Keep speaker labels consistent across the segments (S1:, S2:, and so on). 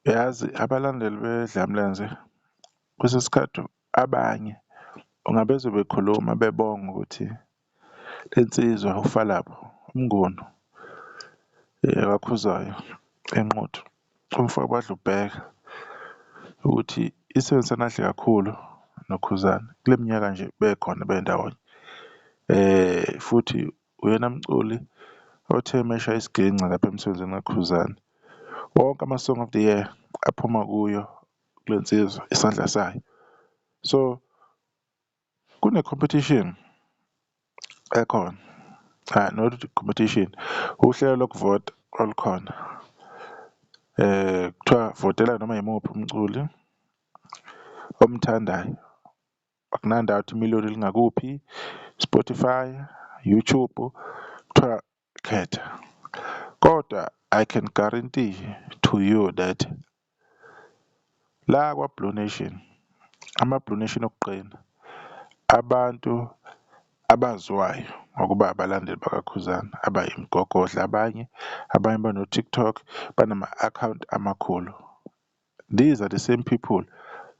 S1: Uyazi abalandeli beDlamlenze kwesinye isikhathi abanye uma bezwa bekhuluma bebonga ukuthi le nsizwa ufa labo uMnguni kaKhuzwayo eNquthu umfo kaDlubheke ukuthi isebenzisene kahle kakhulu noKhuzani kule minyaka nje bekhona bendawonye, futhi Uyena mculi othe meshaya isiginci lapha emsebenzini kaKhuzani, wonke ama-song of the year aphuma kuyo kule nsizwa, isandla sayo. So, kune-competition ekhona, cha not competition, uhlelo lokuvota olukhona, kuthiwa votela noma yimuphi umculi omthandayo, Akunandawo ukuthi imiliyoni lingakuphi, Spotify, YouTube, kuthiwa khetha. Kodwa I can guarantee to you that la kwaBlue Nation, amaBlue Nation okuqina, abantu abaziwayo ngokuba abalandeli bakaKhuzani, abayimigogodla abanye, abanye bano-TikTok, banama-akhawunti amakhulu. These are the same people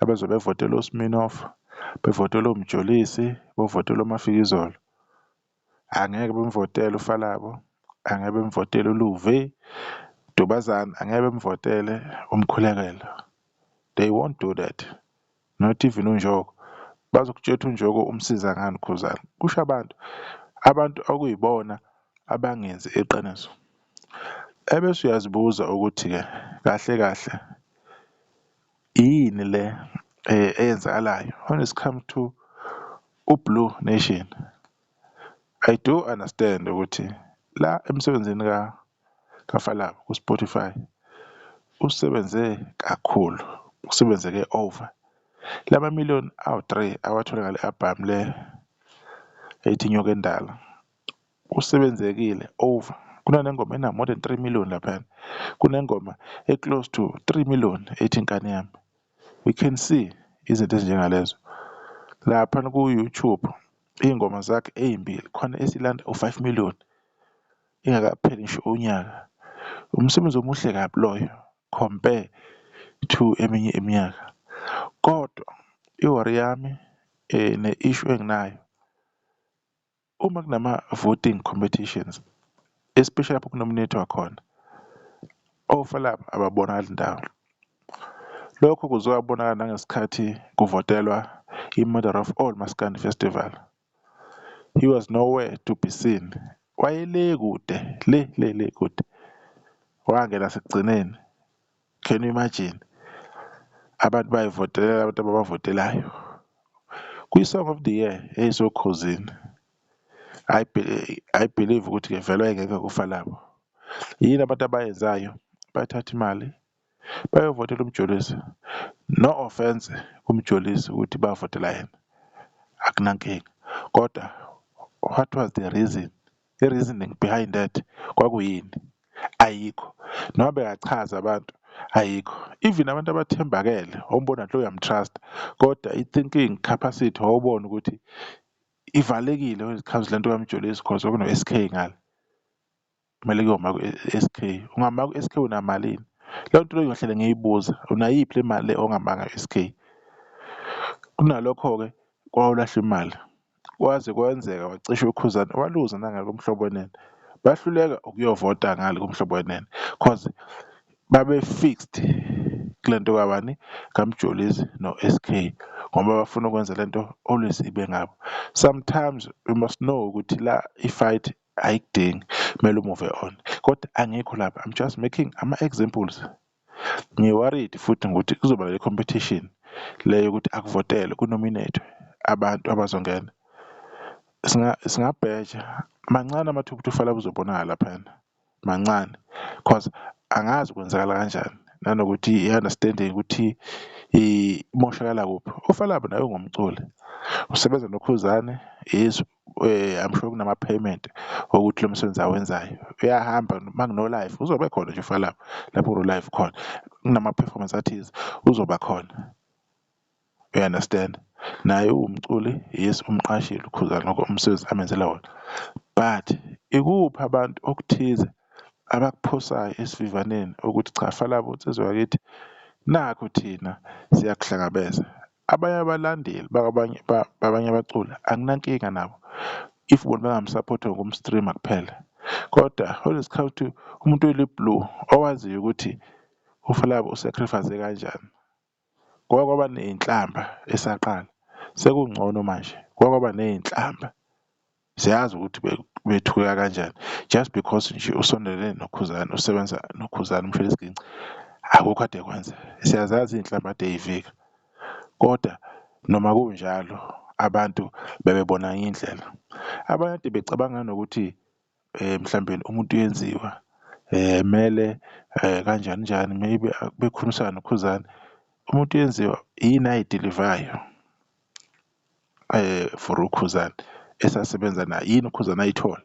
S1: abazobe bevotela uSminoff, bevotela uMjolisi, bovotela uMafikizolo. Angeke bemvotele uFalabo, angeke bemvotele uLuve, Dubazana, angeke bemvotele uMkhulekela. They won't do that. Not even uNjoko. Bazokutsheth uNjoko umsiza ngani Khuzani. Kusho abantu. Abantu okuyibona abangenzi iqiniso. Ebese uyazibuza ukuthi ke kahle kahle yini le eyenzakalayo when it's come to uBlue Nation. I do understand ukuthi la emsebenzini ka kaFalabo kuSpotify usebenze kakhulu, usebenzeke over. Lama million awu-three awathole ngale album le ethi Nyoka Endala usebenzekile over, kunanengoma ena more than three million laphayana, kunengoma e-close to three million ethi Nkani Yami. We can see izinto ezinjengalezo laphana ku-YouTube iy'ngoma zakhe ey'mbili khona esilanda u-five million. ingakapheli ngisho unyaka. Umsebenzi omuhle kabi loyo compare to eminye iminyaka. Kodwa i-worry yami ne-issue enginayo, uma kunama-voting competitions, especially lapho kunominethwa khona, ofa laba ababonakali ndawo. Lokho kuzobonakala nangesikhathi kuvotelwa i-mother of all maskandi festival, He was nowhere to be seen. Wayele kude, le, le, le kude. Wangena sekugcineni. Can you imagine? Abantu bayivotelela abantu ababavotelayo. Kwi-song of the year eyisokhuzini. I, I believe ukuthi-ke vele wayengeke kufa labo. Yini abantu abayenzayo? Bathatha imali, bayovotela umjolisi no offence kumjolisi ukuthi bavotela yena akunankinga kodwa what was the reason i-reasoning behind that kwakuyini ayikho noma bekachaza abantu ayikho even abantu abathembakele wawumbona nje uyamtrust kodwa i-thinking capacity wawubona ukuthi ivalekile when it comes lento kamjolisi cause kwakuno-SK ngale. Kumele kuyoma ku-SK. Ungama ku-SK unamalini? Leyo nto leyo ngiyohlale ngiyibuza, unayiphi le mali le ongama ngayo e-SK? Kunalokho-ke kwawulahlwa imali, kwaze kwenzeka wacisha uKhuzani waluza nangale koMhlobo Wenene. Bahluleka ukuyovota ngale koMhlobo Wenene cause babe-fixed kule nto kabani, kaMjolisi no-SK ngoba bafuna ukwenza le nto always ibe ngabo. Sometimes we must know ukuthi la i-fight Ayikudingi kumele umuve on kodwa angikho lapho I'm just making ama-examples. Ngi-worried futhi ngokuthi kuzoba le competition le yokuthi akuvotelwe ku-nominate-we abantu abazongena. Singabheja mancane amathuba ukuthi uFela uzobonakala laphayana, mancane cause angazi kwenzakala kanjani nanokuthi i-understanding ukuthi imoshakala kuphi. UFela naye ungumculi, usebenza noKhuzani, Izwe. I'm sure kunama-payment okuthi lo msebenzi awenzayo uyahamba uma kuno-live uzobe khona nje ufaka lapho lapho kuno-live khona kunama-performance athize uzoba khona you understand naye uwumculi yes umqashile ukhuzana lokho umsebenzi amenzela wona but ikuphi abantu okuthize abakuphosayo esivivaneni ukuthi cha falabo nsizwa yakithi nakho thina siyakuhlangabeza Abanye abalandeli bakabanye babanye abaculi anginankinga nabo if bona bengamsupport ngokumstreama kuphela kodwa when it comes to umuntu oyiblue owaziyo ukuthi uFlabo usacrifice kanjani kwake kwaba ney'nhlamba esaqala sekungcono manje kwake kwaba ney'nhlamba. Siyazi ukuthi bethuka kanjani just because nje usondelene noKhuzani usebenza noKhuzani umfile isiginci akukho ade kwenza siyazazi izinhlamba ade yivika kodwa noma kunjalo abantu bebebona indlela abanye ade becabanga nokuthi eh mhlambe umuntu uyenziwa eh mele eh kanjani njani maybe bekhulumisana noKhuzani umuntu uyenziwa yini ayidelivayo for uKhuzani esasebenza naye yini uKhuzani ayithola?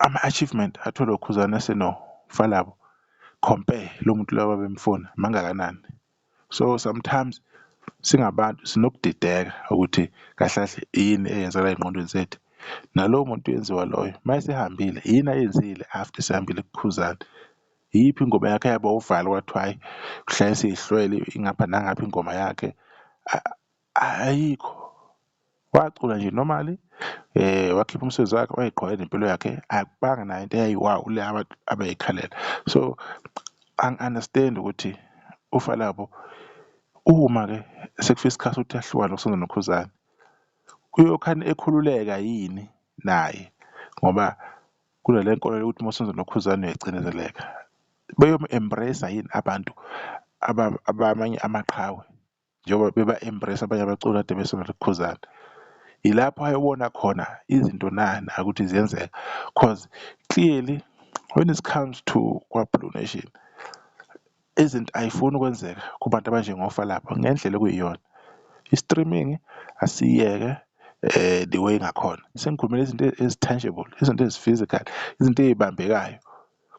S1: Ama-achievement atholwa uKhuzani esenofa labo compare lo muntu lo ababemfuna mangakanani? So sometimes singabantu sinokudideka ukuthi kahle kahle yini eyenzeka ey'ngqondweni zethu, nalowo muntu uyenziwa loyo mayesehambile yini ayenzile after esehambile kuKhuzani? Iyiphi ingoma yakhe yaba uvalo kwathiwa hhayi uhlale siyihlwele ingapha nangapha ingoma yakhe ayikho wacula nje normally eh wakhipha umsebenzi wakhe wayiqhwaya nempilo yakhe akubanga nayo into eyayi wow le abantu abayikhalela so ang understand ukuthi ufa labo uma ke sekufika isikhathi ukuthi ahlukane nokusonza nokhuzane uyokhani ekhululeka yini naye ngoba Kunale nkolo yokuthi uma usenza ulokhuzane uyacindezeleka. Beyomu-embrace yini abantu abamanye amaqhawe njengoba beba-embrace abanye abaculi kade besona lokhuzane. Yilapho ayobona khona izinto nani ukuthi ziyenzeka cause clearly when it comes to KwaBlue Nation Izinto ayifuni ukwenzeka kubantu abanjengofa lapho ngendlela okuyiyona. I-streaming asiyeke the way ngakhona. Sengikhulumela izinto ezi-tangible, izinto ezi-physical, izinto ey'bambekayo.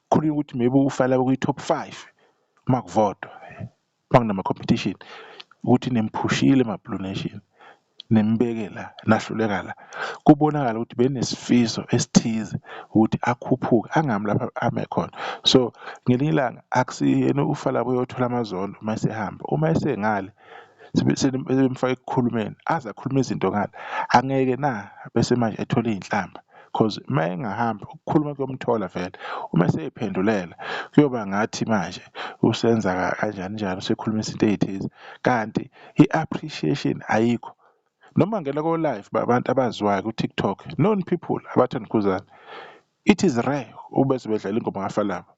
S1: Kukhulunywa ukuthi maybe ufa laba kwi-top five uma kuvotwa, uma kunama-competition ukuthi nimphushile maBlue Nation. nenibeke la nahluleka la kubonakala ukuthi benesifiso esithize ukuthi akhuphuke angami lapha ame khona so ngelinye ilanga akusiyena ufa lapho uyothola amazondo uma esehamba uma esengale sebemfaka ekukhulumeni aze akhulume izinto ngale angeke na bese manje ethola iy'nhlamba because uma engahamba ukukhuluma kuyomthola vele uma eseyiphendulela kuyoba ngathi manje usenza kanjani njalo sekhulumisa into ey'thize kanti i-appreciation ayikho noma ngena ko-live babantu abaziwayo ku-tiktok known people abathanda ukhuzani it is rare ubese bedlala ingoma kafalaba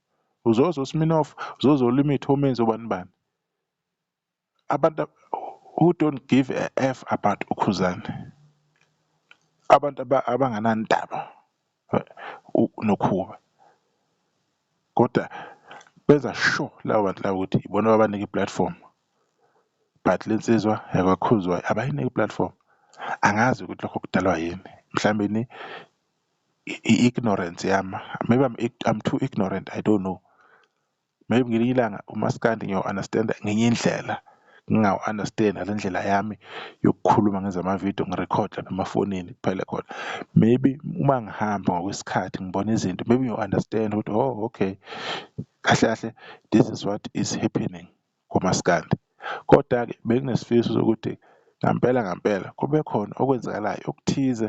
S1: uzozo sminof uzozo limit omenzi obani bani abantu who don't give a f about ukhuzani abantu abanganandaba uNokhuba. Kodwa benza sure laba bantu laba ukuthi ibona ababanike i-platform but le nsizwa yakwaKhuzwayo abayinike i-platform. Angazi ukuthi lokho kudalwa yini, mhlawumbeni i-ignorance yami, maybe I'm too ignorant, I don't know. Maybe ngelinye ilanga umaskandi ngiyowu-understand-a ngenye indlela, ngingawu-understand-i ngale ndlela yami yokukhuluma ngenze ama-video ngi-record-e lapha emafonini kuphele khona. Maybe uma ngihamba ngokwesikhathi ngibona izinto maybe ngiyowu-understand-a ukuthi oh okay, kahle kahle this is what is happening kumaskandi. Koda-ke benginesifiso sokuthi ngampela ngampela kube khona okwenzakalayo okuthize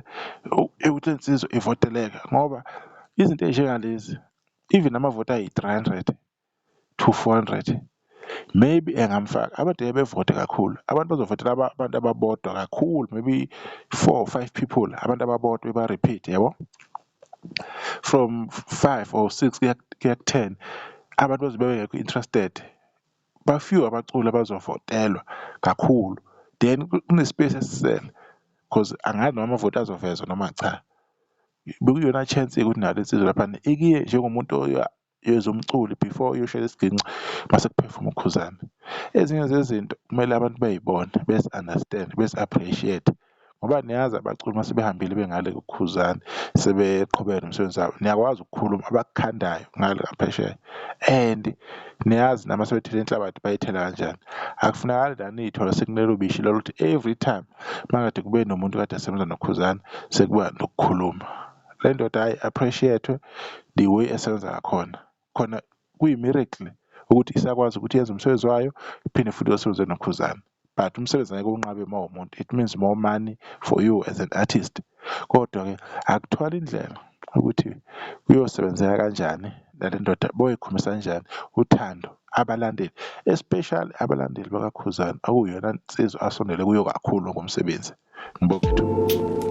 S1: ewukuthi le nsizwa ivoteleka ngoba izinto ey'njengalezi even amavoti ayi-300 to 400 maybe engamfaka abantu ebevote kakhulu abantu bazovotela abantu ababodwa kakhulu maybe four or five people abantu ababodwa beba-repeat yabo from five or six kuya ku-ten abantu bazobe bengekho interested bafew abaculi abazovotelwa kakhulu then kune-space esisele because angazi noma amavoti azovezwa noma cha Bekuyiyona chance ukuthi nalo insizwa laphana ikiye njengomuntu yezwa umculi before uyoshayela isiginci mase kuphefuma uKhuzani. Ezinye zezinto kumele abantu bey'bone bezi-understand bezi-appreciate ngoba niyazi abaculi uma sebehambile bengale kuKhuzani sebeqhubeke nomsebenzi wabo niyakwazi ukukhuluma abakukhandayo ngale ngaphesheya and niyazi nama sebethela inhlabathi bayithela kanjani. Akufunakali la niy'thola sekunelo bishi loluthi every time makade kube nomuntu kade asebenza noKhuzani sekuba nokukhuluma le ndoda hayi appreciate the way esebenza ngakhona khona kuyi-miracle ukuthi isakwazi ukuthi yenze umsebenzi wayo iphinde futhi yosebenze noKhuzani but umsebenzi ngeke unqabe uma umuntu it means more money for you as an artist Kodwa-ke akuthwala indlela ukuthi kuyosebenzeka kanjani nale ndoda boyikhombisa kanjani uthando abalandeli especially abalandeli bakakhuzana okuyona nsizwa asondele kuyo kakhulu ngomsebenzi ngibonga ithuba